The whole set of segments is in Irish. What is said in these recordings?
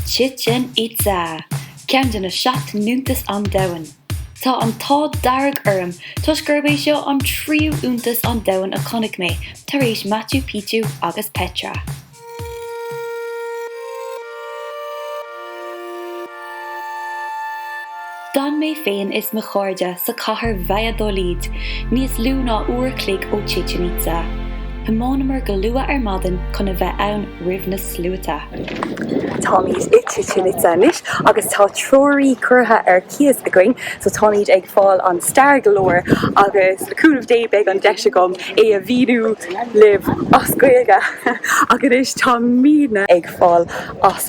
Chichen Itza, ceann de na seacht n-iontas an domhain. Tá an t-ádh dearg orm toisc gurb é seo an tríú iontas an domhain a chonaic mé, tar éis Machu Picchu agus Petra. D'fhan mé féin is mo chairde sa chathair Valladolid níos lú ná uair chloig ó Chichen Itza. Thiomáineamar go luath ar maidin chun a bheith ann roimh na sluaite. Táimid i Chichen Itza anois agus tá treoraí curtha ar cíos againn, so táimid ag fáil an stair go leor agus le cúnamh Dé beidh an deis agam é a mhíniú libh as Gaeilge. Ach anois táimid ag fáil as.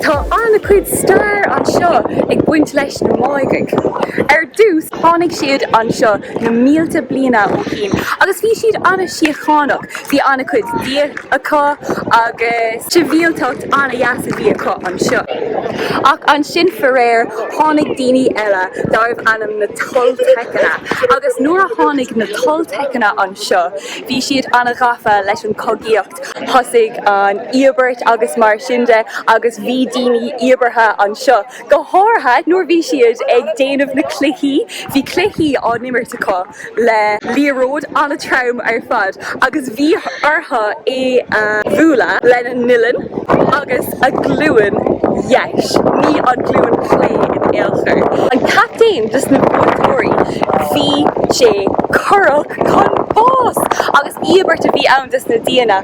Tá an-chuid stair anseo ag baint leis na Máighigh. Ar dtús, tháinig siad anseo na mílte bliana ó shin agus bhí siad an-síochánach, bhí an-chuid bia acu agus sibhialtacht an-dheas a bhí acu anseo. Ach ansin, faraor, tháinig daoine eile darbh ainm na Toltecanna agus nuair a tháinig na Toltecanna anseo, Bhí siad an-ghafa leis an chogaíocht, thosaigh an íobairt agus mar sin de agus bhí daoine íobartha anseo, go háirithe nuair a bhí siad ag déanamh na cluichí, bhí cluichí á n-imirt acu le liathróid an-trom ar fad agus bhí orthu é a bhualadh lena n-uillinn agus a glúin dheis, ní an glúin chlé in aon chor. An captaen dos na buaiteoirí, bhí sé curtha Chun bás agus íobairt a bhí ann dos na déithe.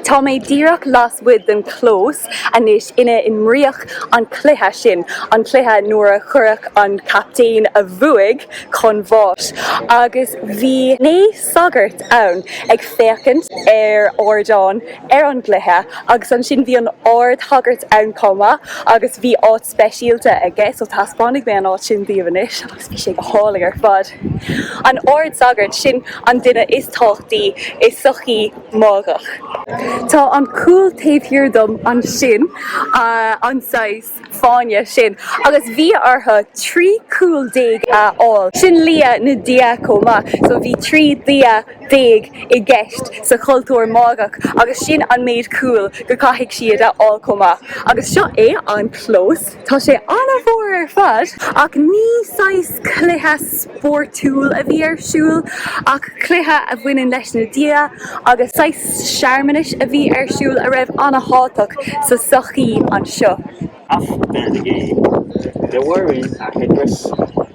Tá mé díreach lasmuigh den chlós anois ina n-imríodh an cluiche sin, an cluiche nuair a cuireadh an captaen a bhuaigh chun bháis, agus bhí naoi sagart ann ag féachaint ar ardán ar an gcluiche agus ansin bhí an ardsagart ann chomh maith agus bhí áit speisialta aige so taispeánfaidh mé an áit sin daoibh anois agus bhí sé go hálainn ar fad. An ard-sagart, sin an duine is tábhachtaí i sochaí Máighach. Tá an cúl taobh thiar dom ansin, an saghas fáinne sin, agus bhí orthu trí chúl déag a fháil, sin lia na Dia chomh maith so bhí trí Dhia, déag i gceist sa chultúr Máigheach agus sin an méid cúl go caithfidh siad a fháil chomh maith agus seo é an clós, tá sé an-mhór ar fad ach ní saghas cluiche spórtúil a bhí ar siúl ach cluiche a bhaineann leis na Dia agus saghas searmanais a bhí ar siúl a raibh an-thábhachtach sa sochaí anseo. After the game, they were in a headdress.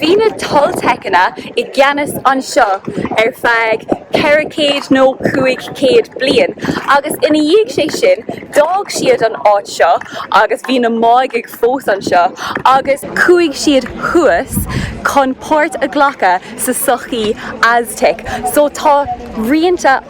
Bhí na Tolteiceanna i gceannas anseo ar feadh ceithre chéad nó cúig chéad bliain agus ina dhiaidh sé sin d'fhág siad an áit seo agus bhí na Máigigh fós anseo agus chuaigh siad thuas chun páirt a ghlacadh sa sochaí Aztec so tá rianta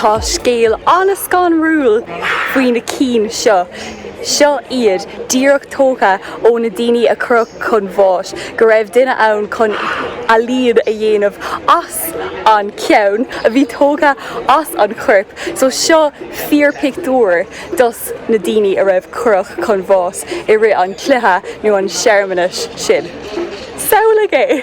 Tá scéal an-scanrúil faoi na cinn seo. Seo iad, díreach tógtha ó na daoine a cuireadh chun bháis, go raibh duine ann chun ealaíon a dhéanamh as. an ceann a bhí tógtha as an chorp so seo fíorpictiúr dos na daoine a raibh cuireadh chun bháis i rith an chluiche nó an searmanais sin. Samhlaigh é!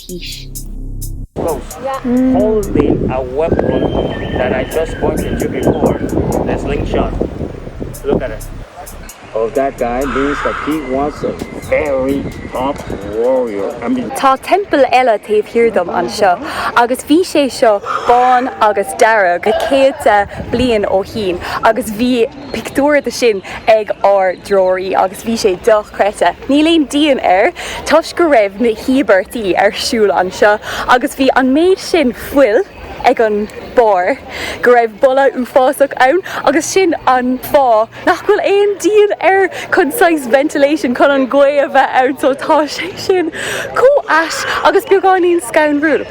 haois. Tá teampall eile taobh thiar dom anseo agus bhí sé seo bán agus dearg na céadta bliain ó shin agus bhí. pictiúr de sin ag ár dtreoraí agus bhí sé dochreidte, níl aon díon air, toisc go raibh na híobairtí ar siúl anseo agus bhí an méid sin fuil ag an barr go raibh boladh uafásach ann agus sin an fáth nach bhfuil aon díon air, chun saghas ventilation, chun an ghaoth a bheith ann so tá sé sin chomh ait agus beagáinín scanrúil.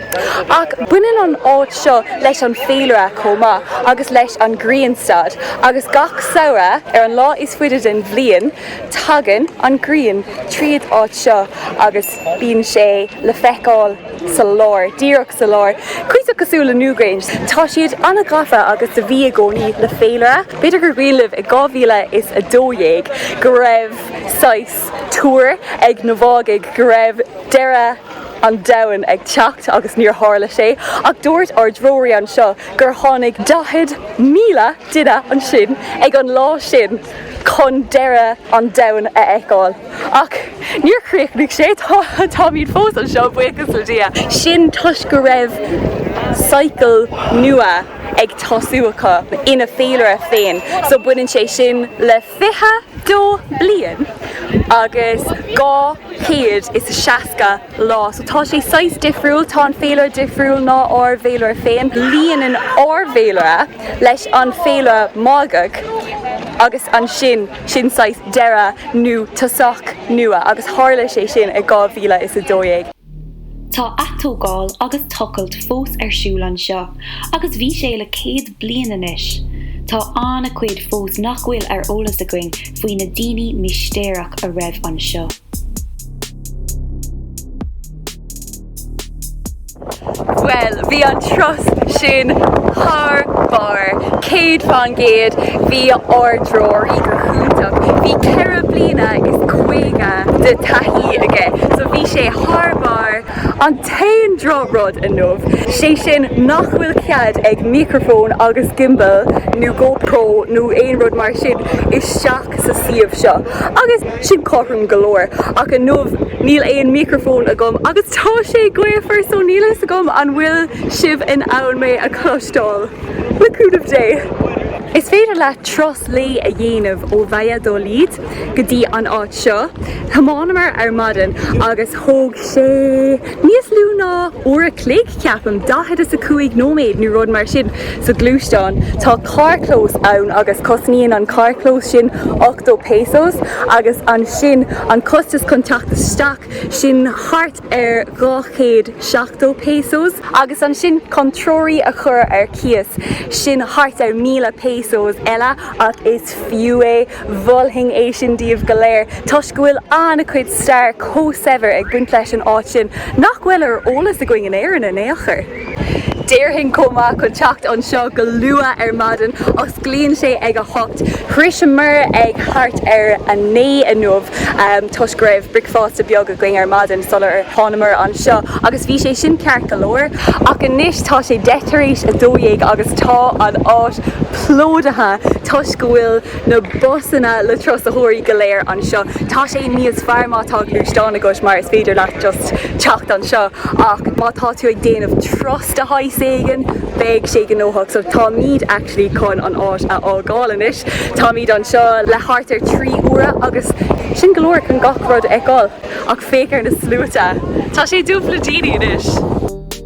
Ach baineann an áit seo leis an féilire chomh maith agus leis an grianstad, agus gach samhradh, ar an lá is faide den bliain, tagann an grian tríd áit seo agus bíonn sé le feiceáil sa lár, díreach sa lár, cuíosach cosúil le Newgrange. Tá siad an-ghafa agus a bhí i gcónaí le féilire. B'fhéidir gur cuimhin libh i 2012 go raibh saghas tuair ag na Máigigh go raibh deireadh. an domhain ag teacht agus níor tharla sé ach dúirt ár dtreoraí anseo gur tháinig 40,000 duine ansin ag an lá sin chun deireadh an domhain a fheiceáil. Ach níor chríochnaigh sé, táimid fós anseo, buíochas le Dia! Sin toisc go raibh cycle nua ag tosú acu ina féilire féin so baineann sé sin le. Fiche dó bliain agus dhá chéad is a seasca lá. So tá sé saghas difriúil, tá an féilire difriúil ná ár bhféilire féin. Líonann ár bhféilire leis an féilire Máigeach agus ansin sin saghas deireadh nó tosach nua agus tharla sé sin i dhá mhíle is a dó dhéag. Tá atógáil agus tochailt fós ar siúl anseo agus bhí sé le céad bliain anois. Tá an-chuid fós nach bhfuil ar eolas againn faoi na daoine mistéireach a raibh anseo. Bhuel, bhí an turas sin thar barr, céad faoin gcéad. Bhí ár dtreoraí go hiontach, bhí ceithre bliana is caoga de thaithí aige, so bhí sé thar barr. An t-aon drochrud inniu, sé sin nach bhfuil cead ag micreafón agus gimbal nó go pro nó aon rud mar sin isteach sa suíomh seo agus. Sin cothrom go leor, ach inniu níl aon micreafón agam agus tá sé gaofar so níl a fhios agam an bhfuil sibh in ann mé a chloisteáil? Le cúnamh Dé! Is féidir leat turas lae a dhéanamh ó Valladolid go dtí an áit seo. Thiomáineamar ar maidin agus thóg sé. Níos lú ná uair a chloig, ceapaim, daichead is a cúig nóiméad nó rud mar sin, sa ghluaisteán. Tá carrchlós ann agus cosnaíonn an carrchlós sin ochtó pesos agus ansin an costas chun teacht isteach, sin thart ar dhá chéad seachtó pesos. Agus ansin chun treoraí a chur ar cíos, sin thart ar mhíle pesos eile ach is fiú é. Mholfainn é sin daoibh go léir toisc go bhfuil an-chuid stair chomh saibhir ag baint leis an áit sin nach bhfuil ar eolas againn in Éirinn in aon chor. Déarfainn chomh maith chun teacht anseo go luath ar maidin, osclaíonn sé ag a hocht, shroiseamar ag thart ar a naoi inniu toisc go raibh bricfeasta beag againn ar maidin sular thángamar anseo agus bhí sé sin ceart go leor, ach anois tá sé deich tar éis a dó dhéag agus tá an áit plódaithe toisc go bhfuil na busanna le turasóirí go léir anseo. Tá sé níos fearr má tá gluaisteán agat mar is féidir leat just teacht anseo ach má tá tú ag déanamh turas de shaghas éigin beidh sé gnóthach so táimid actually chun an áit a fhágáil anois. Táimid anseo le thart ar trí uaire agus sin go leor chun gach rud a fheiceáil ach féach ar na sluaite! Tá sé dubh le daoine anois!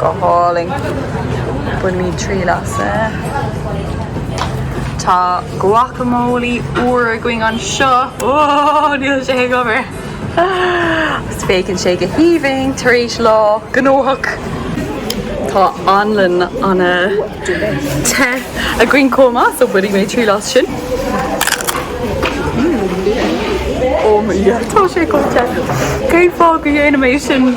Go hálainn. Bainimid triail as. Tá guacamole úr againn anseo. Whoa, níl sé ag obair! Agus féachann sé go haoibhinn tar éis lá gnóthach. Tá anlann an te againn chomh maith, so bainfidh mé triail as sin. Mmm. Yummy. Tá sé chomh te. Cén fáth go ndéanaim é sin?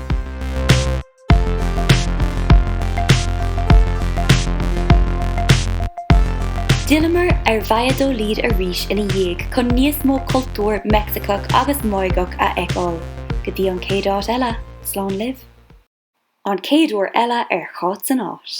D'fhilleamar ar Valladolid arís ina dhiaidh chun níos mó cultúr Meicsiceach agus Máigeach a fheiceáil. Go dtí an chéad áit eile, slán libh. An chéad uair eile ar Cháit san Áit.